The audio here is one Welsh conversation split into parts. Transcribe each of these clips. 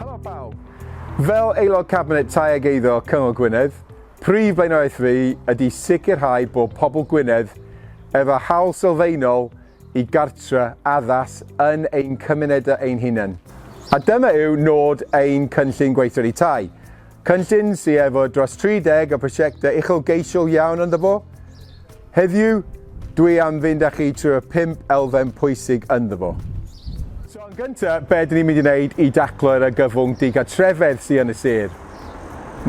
Helo pawb! Fel aelod Cabinet Tai ag Eiddo Cyngor Gwynedd, prif blaenoriaeth fi ydy sicrhau bod pobl Gwynedd efo hawl sylfaenol i gartre addas yn ein cymunedau ein hunain. A dyma yw nod ein cynllun gweithredu tai. Cynllun sy efo dros 30 o prosiectau uchelgeisiol iawn ynddo fo. Heddiw, dwi am fynd â chi trwy'r pump elfen pwysig ynddo fo. So, yn gynta, be ydyn ni'n mynd i wneud i daclo'r argyfwng digartrefedd sy yn y sir?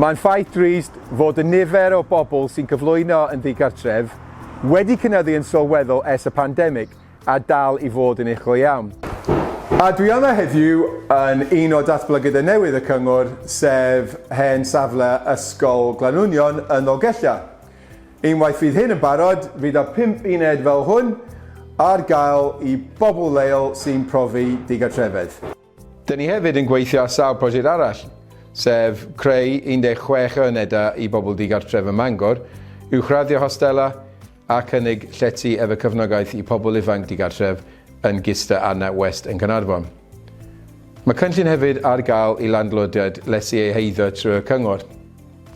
Mae'n ffaith drist fod y nifer o bobl sy'n cyflwyno yn ddigartref wedi cynyddu yn sylweddol ers y pandemig, a dal i fod yn eich go iawn. A dwi yma heddiw yn un o datblygydau newydd y cyngor, sef hen safle Ysgol Glanunion yn Nolgella. Unwaith fydd hyn yn barod, fydd y pump uned fel hwn ar gael i bobl leol sy'n profi digartrefedd. Dyn ni hefyd yn gweithio ar sawl prosiect arall, sef creu 16 o unedau i bobl digartref ym Mangor, uwchraddio hostelau a chynnig llety efo cefnogaeth i pobl ifanc digartref yn Gista a NatWest yn Caernarfon. Mae cynllun hefyd ar gael i landlordiaid lesu eu heiddo trwy'r cyngor,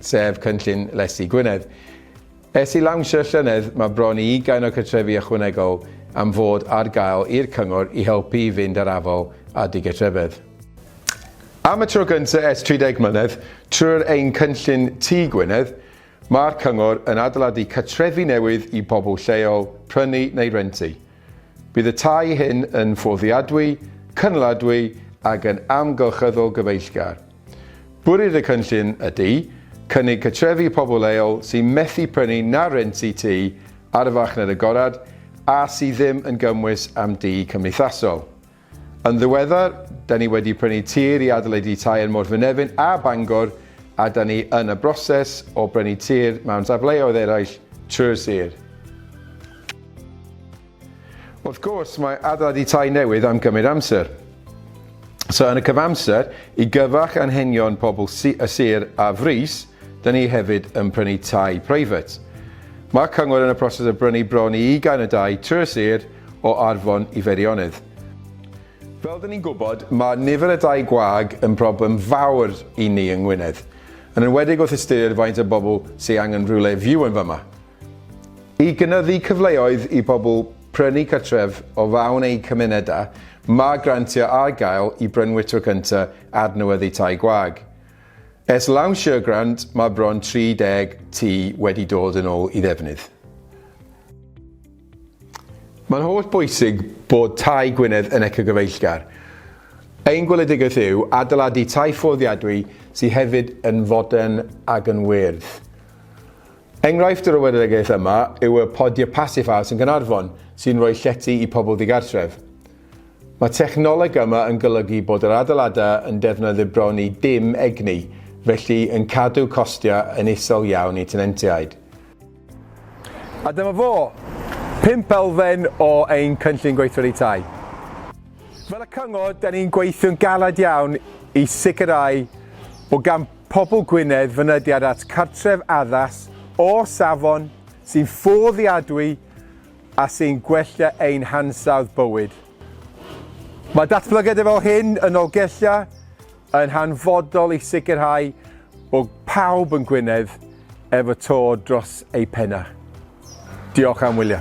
sef cynllun Lesu Gwynedd. Ers ei lawnsio llynedd, mae bron i ugain o gartrefi ychwanegol am fod ar gael i'r cyngor i helpu i fynd ar afal â digartrefedd. Am y tro gyntaf ers 30 mlynedd, trwy'r ein cynllun Tŷ Gwynedd, mae'r cyngor yn adeiladu cartrefi newydd i bobl lleol prynu neu rentu. Bydd y tai hyn yn fforddiadwy, cynaliadwy ac yn amgylchyddol gyfeillgar. Bwriad y cynllun ydy cynnig cartrefi pobl leol sy'n methu prynu na rentu tŷ ar y farchnad agored a sydd ddim yn gymwys am dŷ cymdeithasol. Yn ddiweddar, da ni wedi prynu tir i adolydu tai yn Morfynefyn a Bangor a da ni yn y broses o brynu tir mewn safleoedd eraill trwy'r sir. Wrth gwrs, mae adeiladu tai newydd am gymryd amser. So yn y cyfamser, i gyfarch anghenion pobl y sir a frys, da ni hefyd yn prynu tai preifat. Mae cyngor yn y proses o brynu bron i ugain o dai trwy'r sir o Arfon i Feirionydd. Fel da ni'n gwybod, mae nifer y dai gwag yn broblem fawr i ni yng Ngwynedd, yn enwedig wrth ystyried faint o bobl sy'n angen rhywle fyw yn fama. I gynyddu cyfleoedd i bobl prynu cartref o fawn eu cymunedau, mae grantiau ar gael i brynwyr tro cyntaf adnewyddu tai gwag. Ers lawnsio'r grant, mae bron 30 tŷ wedi dod yn ôl i ddefnydd. Mae'n holl bwysig bod Tai Gwynedd yn ecogyfeillgar. Ein gweledigaeth yw adeiladu tai fforddiadwy sydd hefyd yn fodern ac yn wyrdd. Enghraifft yr oweregeaeth yma yw y Podiau Passifas yn Gaernarfon sy'n rhoi llety i pobl digartref. Mae technoleg yma yn golygu bod yr adeiladau yn defnyddio bron i dim egni, felly yn cadw costiau yn isel iawn i tenantiaid. A dyma fo! Pump elfen o ein cynllun gweithredu tai. Fel y cyngor, 'da ni'n gweithio'n galed iawn i sicrhau bod gan pobl Gwynedd fynediad at cartref addas o safon sy'n fforddiadwy a sy'n gwella ein hansawdd bywyd. Mae datblygiadau fel hyn yn Nolgella yn hanfodol i sicrhau bod pawb yn Gwynedd efo to dros eu pennau. Diolch am wylio.